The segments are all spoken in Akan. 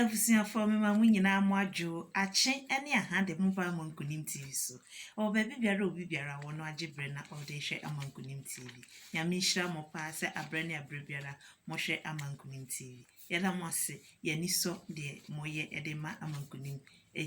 abusuafoɔ mema mo nyinaa mo adwo akye ne aha de mo ba ama nkonim tv so ɛwɔ baabi biara obi biara wɔ no agye berɛ na ɔde hwɛ ama nkonim tv nyame nhyira mo paa sɛ aberɛ ne aberɛ biara mohwɛ ama nkonim tv yɛda mo ase yɛni sɔ deɛ moyɛ de ma ama nkonim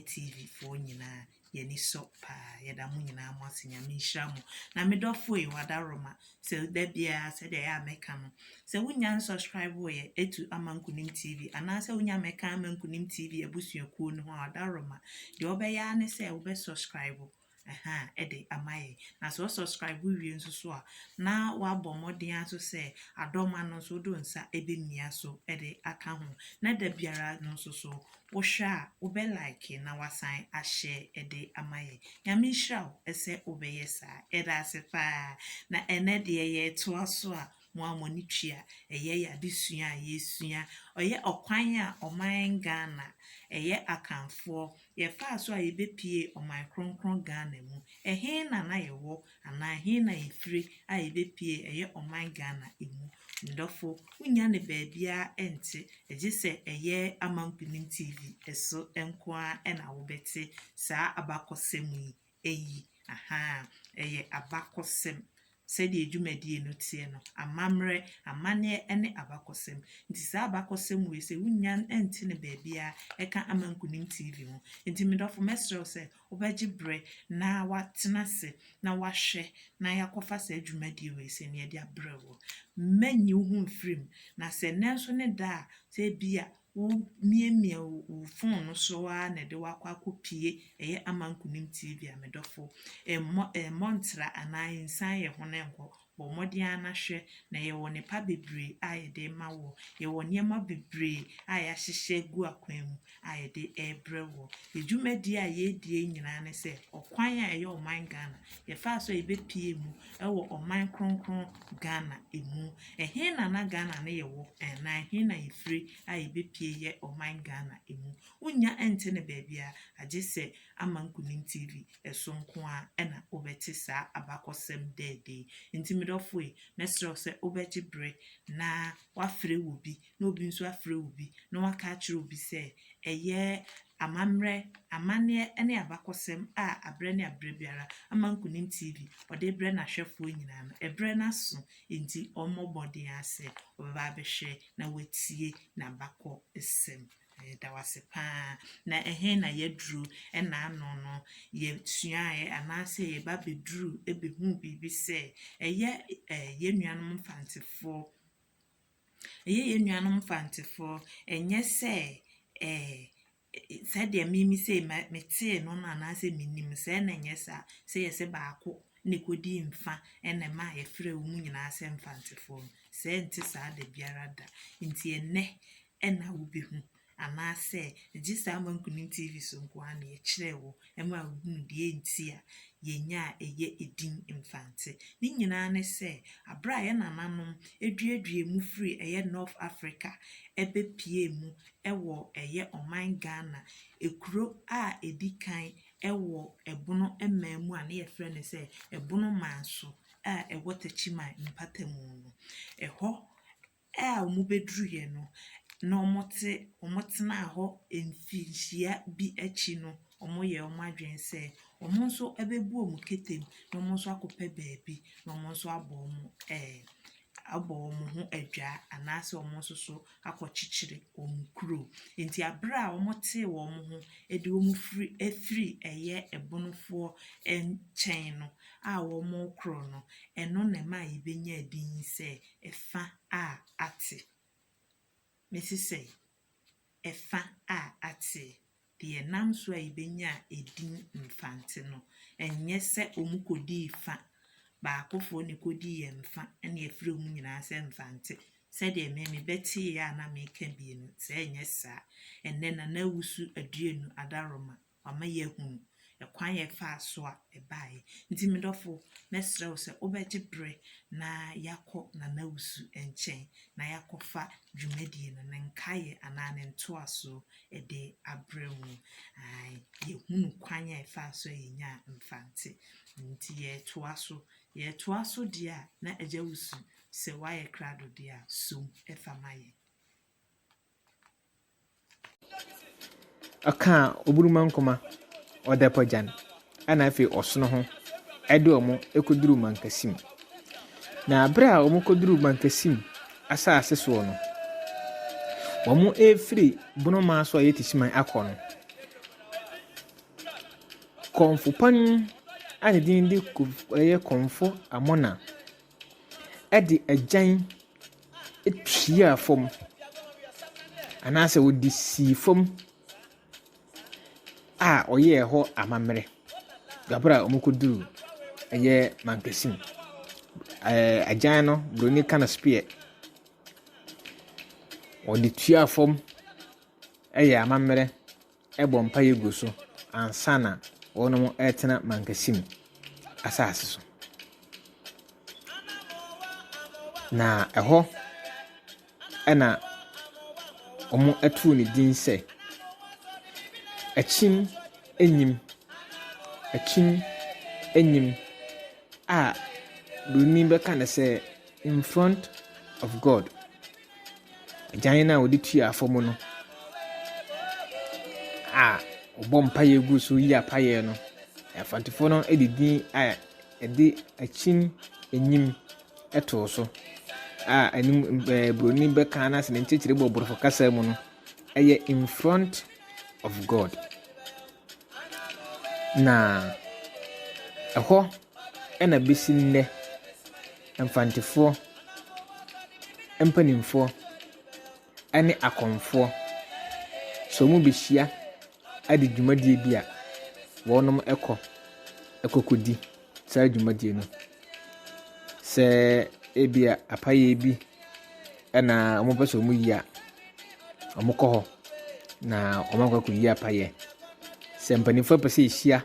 tv foɔ nyinaa Yɛn ani sɔ paa. Yɛda mo nyinaa mo ase. Nyame nhyira mo. Na me dɔfo ei, Wadaroma, sɛ da biara sɛdeɛ ɛyɛ a mɛka no, sɛ wonnya nsubscriboo yɛ atu ama Nkunim TV anaa sɛ wonnya mmɛka amma Nkunim TV abusuakuo no ho a, Wadaroma, deɛ wobɛyɛ ara ne sɛ wobɛ subscribe ɛhaa de ama yɛn. Na sɛ wo subscribe wie nso so a, na woabɔ mmɔden ara nso sɛ Adɔma no nso wode wo nsa ɛbɛmia so de aka ho. Na da biara no nso so Wohwɛ a wobɛ like na wasan ahyɛ ɛde ama yɛn. Nyame nhyira wo sɛ wobɛyɛ saa. Yɛda ase paa. Na ɛnɛ deɛ yɛtoa so a mo a mo ani tua. Ɛyɛ yɛn adesua a yɛsua. Ɔyɛ ɔkwan a ɔman Ghana, ɛyɛ Akanfoɔ, yɛfaa so a yɛbɛpie ɔman kronkron Ghana mu. Ɛhe na na yɛwɔ Anaa he na yefiri a yebepie ɛyɛ ɔman Ghana mu? Mdɔfo, wonnya no baabiaa nte, gye sɛ ɛyɛ Amankunim TV so nko ara na wobɛte saa abakɔsɛm yi. Eyi, ahaa, ɛyɛ abakɔsɛm. Sɛdeɛ dwumadie no teɛ no, amammerɛ, amanneɛ ne abakɔsɛm. Nti saa abakɔsɛm wei sɛ wonnya nte no baabiaa ɛka Amankunim TV ho. Nti medɔfo mɛsrɛ wo sɛ Wobɛgye berɛ na woatena ase na woahwɛ na yɛakɔfa saa dwumadie wei sɛdeɛ yɛde abrɛ woɔ. Mɛnyi wo ho mfiri mu. Na sɛ nnɛ nso ne da a, sɛ ebia womiamia wo fon no so ara na ɛde wo akɔ akɔpue ɛyɛ Ama Nkonim TV a, me dɔfo, mmɔ mmɔ ntra anaa nsian yɛn ho no nkɔ. Bɔ mmɔden ara na hwɛ, na yɛwɔ nnepa bebree a yɛde rema woɔ. Yɛwɔ nneɛma bebree a yɛahyehyɛ agu akwan mu a yɛde rebrɛ woɔ. Yɛn dwumadie a yɛredie nyinaa ne sɛ, ɔkwan a ɛyɛ ɔman Ghana, yɛfaa so a yɛbɛpue mu wɔ ɔman kronkron Ghana mu. Ɛhe na na Ghana no yɛ wɔ, na ɛhe na yɛfiri a yɛbɛpue yɛ ɔman Ghana mu. Wonnya nte no baabiara agye sɛ Ama Nkunim TV. so nko ara na wobɛte saa abakɔsɛm dɛɛdɛ yi. Enti me dɔfo ei, mɛsrɛ wo sɛ wobɛgye bere na woafrɛ obi, na obi nso afrɛ obi, na wɔaka akyerɛ obi sɛ ɛyɛ amammerɛ, amanneɛ ne abakɔsɛm a aberɛ ne aberɛ biara Ama Nkonim TV ɔde rebrɛ n'ahwɛfoɔ nyinaa no. Ɛberɛ no aso, enti ɔmmɔ mmɔden ara sɛ ɔbɛba abɛhwɛ na watie n'abakɔsɛm. Yɛda wo ase paa. Na ɛhe na yɛaduru? Ɛna ano no, yɛsuaeɛ anaasɛ yɛba bɛduru bɛhuu biribi sɛ ɛyɛ eh, yɛn nuanom mfantefoɔ. Ɛyɛ yɛn nuanom mfantefoɔ. Ɛnyɛ sɛ eh, sɛdeɛ mimi sɛ metee no no anaasɛ menim sɛ na ɛnyɛ saa sɛ yɛ sɛ baako na ɛkɔdii mfa ɛna ɛma a yɛfrɛ wɔn nyinaa sɛ mfantefoɔ no. Sɛ ɛnte saa da biara da. Nti ɛnnɛ na wubehu, anaasɛ gye saa Ama Nkonim TV so nko ara na yɛkyerɛɛ wo maa wuhuu deɛ enti a yɛnya a ɛyɛ edin Mfantse. Ne nyinaa ne sɛ, bere a yɛn nananom duaduaa mu firii ɛyɛ North Africa bɛpuee mu wɔ ɛyɛ ɔman Ghana kuro a ɛdi kan wɔ Ɛbono man mu a na yɛfrɛ no sɛ Ɛbono Manso a ɛwɔ Techiman mpatamu no, ɛhɔ a wɔbɛduruiɛ no, na wɔte, wɔtenaa hɔ mfirinhyia bi akyi no, wɔyɛɛ wɔn adwene sɛ wɔn nso bɛbu wɔn ketem na wɔn nso akɔpɛ baabi na wɔn nso abɔ wɔn ɛɛ abɔ wɔn ho adwa anaasɛ wɔn nso so akɔkyekyere wɔn kuro. Enti berɛ a wɔtee wɔn ho de wɔn firi afiri ɛyɛ Ebonofoɔ nkyɛn no a wɔrekorɔ no, ɛno na ɛmaa yɛbɛnyaa din sɛ Ɛfã a atse. Mesesɛe. Ɛfã a atse. Deɛ ɛnam so a yɛbɛnyaa edin Mfantse no, ɛnyɛ sɛ wɔkɔdii fã. Baakofoɔ na ɛkɔdii yɛn fã na yɛfrɛ wɔn nyinaa sɛ Mfantse. Sɛdeɛ me mebɛteeɛ a na meka bi no, sɛ ɛnyɛ saa a, ɛnnɛ Nana Awusu Aduanu Adaroma Wama yɛahunu kwan a ɛfaa so a ɛbaeɛ. Nti me dɔfo, mɛsrɛ wo sɛ wobɛgye berɛ na yɛakɔ Nana Wusu nkyɛn na yɛakɔfa dwumadie no, ne nkaeɛ anaa ne ntoasoɔ de abrɛ mu. Ae, yɛhunu kwan a ɛfaa so a yɛnyaa Mfante. Nti yɛretoa so. Yɛretoa so deɛ a, na Agya Wusu, sɛ woayɛ krado deɛ a, som fa ma yɛn. Ɔkaa Oburumankoma, Ɔdapagyan, ɛna afei Ɔsono ho de wɔn kɔduruu Mankasim. Na berɛ a wɔkɔduruu Mankasim asase soɔ no, wɔrefiri Bonomaa so a ɛyɛ Tisiman akɔ no, Kɔmfopan a ne din de Kof ɛyɛ Kɔmfo Amona de agyan tuaa fam, anaasɛ wɔde sii fam a wɔyɛɛ hɔ amammerɛ berɛ a wɔkɔduruu ɛyɛ mankesine. Ɛɛ agyan no, buroni ka no spear. Wɔde tuaa fam yɛɛ amammerɛ bɔ mpaeɛ gu so ansa na wɔretena mankessim asase so. Na ɛhɔ na wɔtoo ne din sɛ Akyim Anyim, Akyim Anyim a Buroni bɛka no sɛ In Front of God. Agyan no a wɔde tua fam no a wɔbɔ mpaeɛ gu so reyi apaeɛ no, Afantefoɔ no de din a ɛde akyin anim too so a anim ɛɛ buroni bɛka no ase ne nkyerɛkyerɛ mu wɔ borɔfo kasa mu no yɛ in front of God. Na ɛhɔ na bɛsi nnɛ. Mfantefoɔ, mpanimfoɔ ne akɔmfoɔ, sɛ wɔbɛhyia de dwumadie bi a, wɔkɔ kɔkɔdi saa dwumadie no. Sɛ ebia apayɛ bi na wɔpɛ sɛ wɔyi a, wɔkɔ hɔ na wɔakɔ akɔyi apayɛ. Sɛ mpanimfoɔ pɛ sɛ wɔhyia.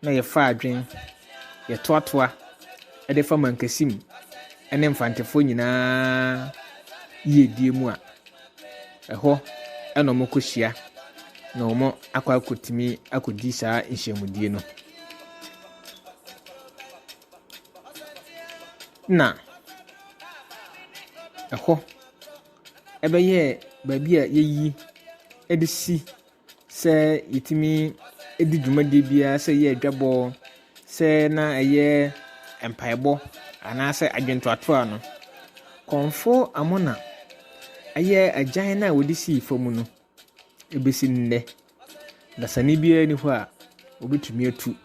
na yɛfa adwen, yɛtoatoa de fa Mankasim ne Mfantefoɔ nyinaa yiedie mu a, ɛhɔ na wɔkɔhyia na wɔakɔ akɔtumi akɔdi saa nhyiamudie no. Na ɛhɔ ɛbɛyɛɛ baabi a yɛyi de si sɛ yɛtumi di dwumadie biara sɛ ɛyɛ adwabɔ sɛ na ɛyɛ mpaebɔ anaasɛ adwentoatoa no kɔmfo amona ɛyɛ agyan no a wɔde sii fam no ɛbɛsi nnɛ dasani biara ni hɔ a wɔbɛtumi atu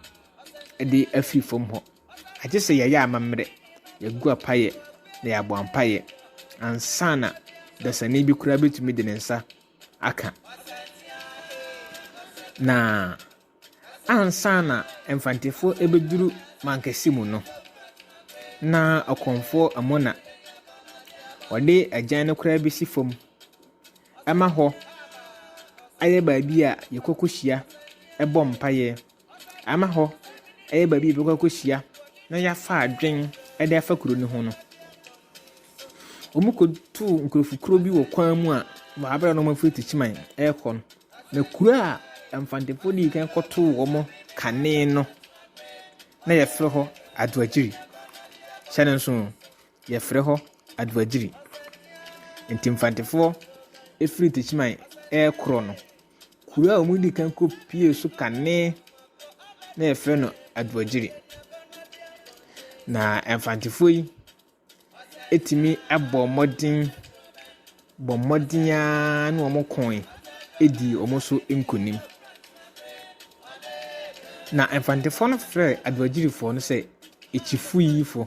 de afi fam hɔ agye sɛ yɛyɛ amammerɛ yɛgu apayɛ na yɛabɔ ampayɛ ansa na dasani bi koraa bɛtumi de ne nsa aka. Na ansa na Mfantefoɔ bɛduru Mankɛse mu no, na Ɔkɔmfoɔ Amona ɔde agyan no koraa bɛsi fam ma hɔ ayɛ baabi a yɛkɔ kɔhyia bɔ mpaeɛ. Ama hɔ yɛ baabi a yɛbɛkɔ akɔhyia na yɛafa adwene de afa kuro no ho no, wɔkɔtuu nkurɔfokuo bi wɔ kwan mu a wɔabrɛ wɔn a wɔfiri Techiman rekɔ no. Na kuro a Mfantefoɔ dii kan kɔtoo wɔn kane no, na wɔfrɛ hɔ Adoagyiri. Hyɛ no nso o, wɔfrɛ hɔ Adoagyiri. Nti Mfantefoɔ firi Techiman rekorɔ no, Kuro a wɔdi kan kɔpuee so kane na wɔfrɛ no Aduagyiri. Na Mfantefoɔ yi tumi bɔɔ mmɔden bɔɔ mmɔden ara ne wɔkooe dii wɔn so nkunim. Na Mfantefoɔ no frɛɛ Aduagyirifoɔ no sɛ Akyifuyifoɔ.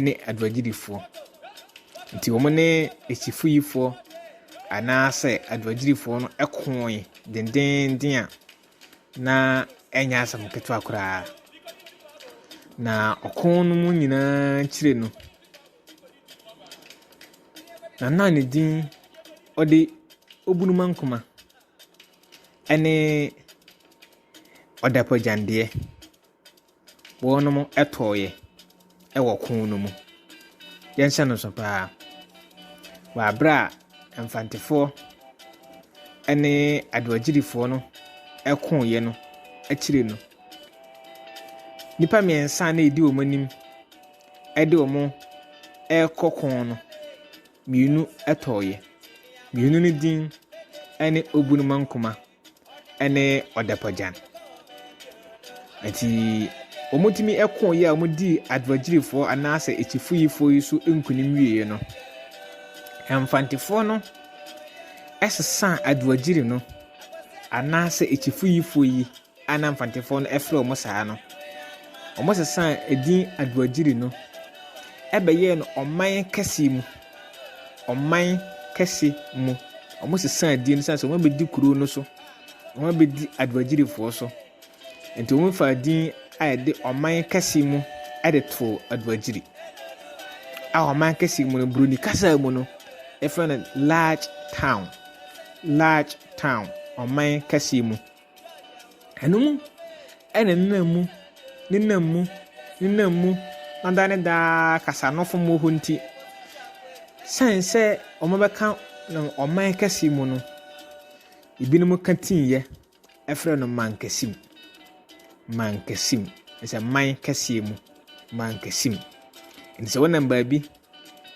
ne aduagyidifoɔ. Nti wɔne asifoyifoɔ anaasɛ aduagyidifoɔ no koe dendeenden a na ɛnyɛ asɛm ketewa koraa. Na ɔko no mu nyinaa akyire no, na na ne din ɔde Obunuma Nkoma ne Ɔdapagyandeɛ. Wɔnom tɔeɛ wɔ ko no mu. Yɛnhyɛ no nso paa. Wɔ aberɛ a Mfantefoɔ ne Adoagyirifoɔ no koeɛ no akyire no, nnipa mmiɛnsa na ɛdi wɔn anim de wɔn rekɔ ko no, mmienu tɔeɛ. Mmienu no din ne Obunumankuma ɛne ɔdapagyan. Nti wɔtumi koo yɛ a wɔdii adwagyirifoɔ anaasɛ akyifuyifoɔ yi so nkunim wieɛ no, Mfantefoɔ no sesaa adwagyiri no anaasɛ akyifuyifoɔ yi a na Mfantefoɔ no frɛ wɔn saa no, wɔsesaa edin adwagyiri no ɛbɛyɛɛ no ɔman kɛseɛ mu. ɔman kɛse mu. Wɔsesaa din sɛ sɛ wɔabɛdi kuro no so, wɔabɛdi Aduagyirifoɔ so. Nti wɔfaa din a ɛde ɔman kɛse mu de too Aduagyiri. A ɔman kɛse mu no, Buroni kasa mu no, ɛfrɛ no large town. Large town, ɔman kɛse mu. Ɛno mu na nenam mu, nenam mu, nenam mu na daa ne daa kasanofo mmɔ hɔ nti, sɛn sɛ wɔbɛka no ɔman kɛse mu no, ebinom ka tiiɛ frɛ no mankɛse mu. Mankɛse mu, ɛsɛ man kɛseɛ mu, mankɛse mu. Nti sɛ wonam baabi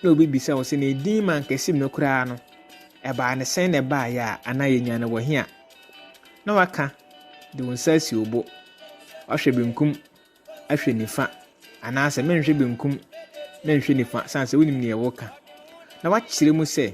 na obi bisa wo sɛ, na edin ma nkɛsim no koraa no, ɛbaa no sɛn na ɛbaeɛ a, anaa yɛnya no wɔ he a, na waka de wo nsa asi wo bo, wahwɛ benkum, ahwɛ nifa, anaasɛ menhwɛ benkum, menhwɛ nifa, sane sɛ wonim neɛ woka, na wakyerɛ mu sɛ,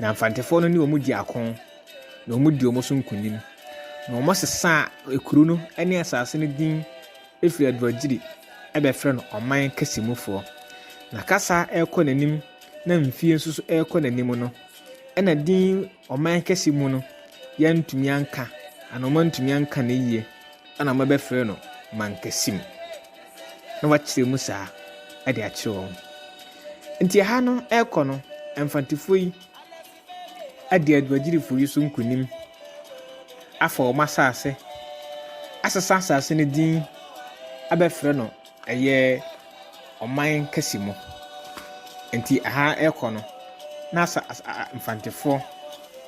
Na Mfantefoɔ no ne wɔn dii ako, na wɔdii wɔn so nkonim, na wɔsesaa ekuro no ne asase no din firi Aduagyiri bɛfrɛ no Ɔman Kɛse Mufoɔ. Na kasa rekɔ n'anim na mfie nso so rekɔ n'anim no, ɛna din Ɔman Kɛse mu no, yɛantumi anka, anaa wɔantumi anka no yie, ɛna wɔbɛfrɛɛ no Mankasim. na wakyerɛ mu saa de akyerɛ wɔn. Nti ɛha no ɛrekɔ no, mfantefoɔ yi adi aduagyirifoɔ yi so nkunim, afa wɔn asase, asesa asase no din abɛfrɛ no ɛyɛ ɔman kɛse mu. Nti ɛha ɛrekɔ no, na asa, asa, mfantefoɔ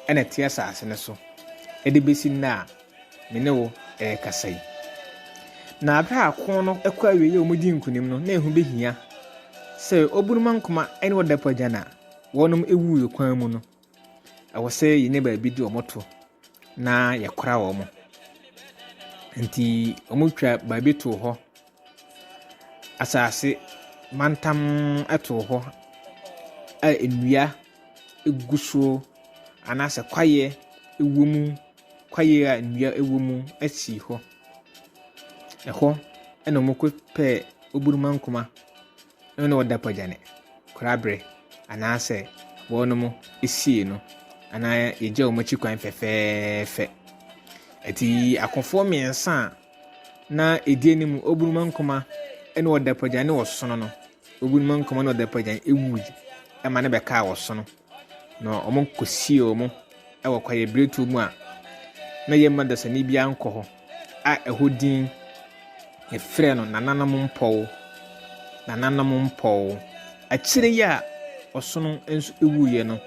ɛna ɛte asase no so ɛde bɛsi nnɛ a Me ne wo rekasa yi. Na bere a ko no kɔ awiei a wɔdii nkonim no, na ehu behia sɛ obunumankoma ne ɔdapu agyan a wɔnom wuu kwan mu no, ɛwɔ sɛ yɛnya baabi de wɔn to na yɛkora wɔn. Nti wɔtwa baabi too hɔ, asase mantam too hɔ a nnua gu so anaasɛ kwaeɛ wɔ mu. kwaeɛ a nnua wɔ mu sii hɔ. Ɛhɔ na wɔkɔpɛɛ oburumankoma no na wɔde apagyane koraberɛ anaasɛ wɔnom sii no anaa yɛgyaa wɔn akyi kwan fɛfɛɛfɛ. Ɛti akofoɔ mmiɛnsa a na ɛdi anim oburumankoma na wɔde apagyane ɔsono no, oburumankoma na wɔde apagyane wuui ma no bɛkaa ɔsono. Na wɔkɔsiee wɔn wɔ kwaeɛbirentuo mu a na yɛmma dasani biara nkɔ hɔ a ɛhɔ din yɛfrɛ no Nananom Mpɔw, Nananom Mpɔw. Akyire yi a ɔsono nso wuiɛ no,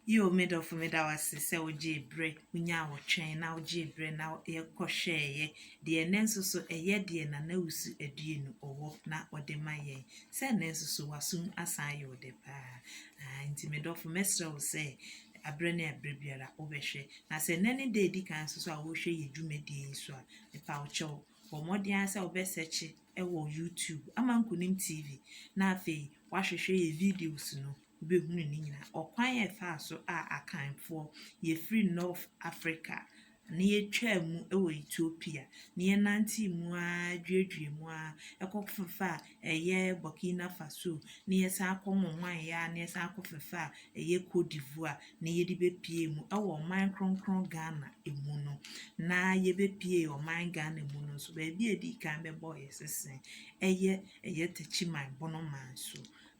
Yiw, me dɔfo, meda wo ase sɛ wogyee bere, wunyaa awotwɛn, na wogyee bere na yɛkɔhwɛeɛ deɛ ɛnnɛ nso so ɛyɛ deɛ Nana Wusu Aduonu ɔwɔ na ɔde ma yɛn. Sɛ nnɛ nso so w'aso mu asan ayɛ wo dɛ paa. Aane, nti me dɔfo, mɛsrɛ wo sɛ aberɛ ne aberɛ biara wobɛhwɛ. Na sɛ nnɛ ne da a ɛdi kan nso so a worehwɛ yɛn dwumadie yi nso a, mepa wo kyɛw, bɔ mmɔden ara sɛ wobɛsɛkye wɔ YouTube, Ama Nkonim TV, na afei woahwehwɛ yɛn videos no. wobɛhunu ne nyinaa. Ɔkwan a ɛfaa so a Akanfoɔ, yɛfiri North Africa na yɛtwaa mu wɔ Ethiopia na yɛnantee mu ara dwiradwiraa mu ara ɛkɔ fefaa ɛyɛ Burkina Faso na yɛsan kɔ nwanwan yɛ ara na yɛsan kɔ fefaa ɛyɛ Cote d'Ivoire na yɛde bɛpuee mu wɔ ɔman kronkron Ghana mu no. Na yɛbɛpuee ɔman Ghana mu no nso, baabi a yɛdii kan bɛbɔeɛ sese ɛyɛ ɛyɛ Techiman Bonoman so.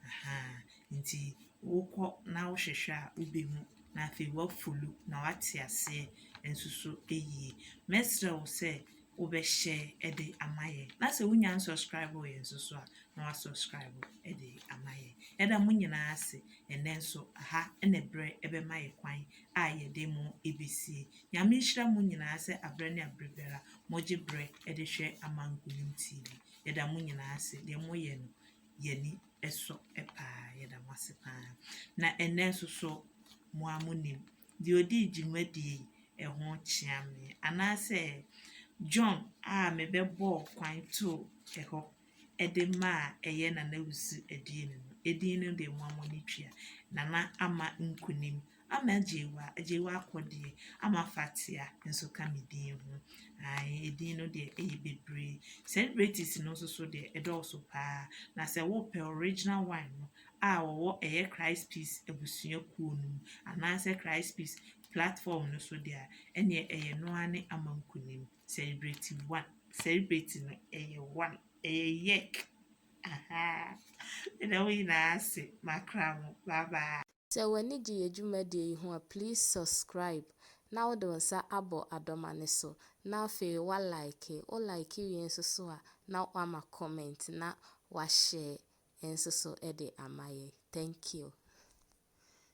Ahaa, nti wokɔ na wohwehwɛ a wobɛhu na afei woafolo na woate aseɛ nso so yie. Mɛsrɛ wo sɛ wobɛhyɛ de ama yɛn na sɛ wonya nsubscriboo yɛn nso so a na woasubscribe de ama yɛn. Yɛda mo nyinaa ase ɛnnɛ nso aha na berɛ bɛma yɛ kwan a yɛde mo bɛsie. Nyame nhyira mo nyinaa sɛ aberɛ ne aberɛ biara mogye berɛ de hwɛ Amankomum TV. Yɛda mo nyinaa ase deɛ moyɛ no. yɛn ani sɔ paa. Yɛda mo ase paa. Na ɛnnɛ nso so, mo ara monim, deɛ ɔdii dwumadie yi, ɛho kyea me. Anaasɛ John a mebɛbɔɔ kwan too ɛhɔ de maa ɛyɛ Nana Wusu Adie no, edin no deɛ mo ara mo ani tua. Nana ama nkunim Ama agyewa, agyewa akɔdeɛ. Ama afatea nso ka me din ho. Ae, edin no deɛ ɛyɛ bebree. Celebrities no nso so deɛ ɛdɔɔso paa. Na sɛ wopɛ original one no a wɔwɔ ɛyɛ Christ Peace abusuakuo no mu anaasɛ Christ Peace platform no so deɛ a, ɛneɛ ɛyɛ no ara ne Ama Nkunim, celebrity one. Celebrity no ɛyɛ one, ɛyɛ yɛk. Ahaa, meda mo nyinaa ase, makra mo. Bye bye. Sɛ w'ani gye yɛ dwumadie yi ho a please subscribe na wode wo nsa abɔ adɔma no so na afei wa like, wo like wie nso so a na wama comment na wa share nso so de ama yɛ. Thank you.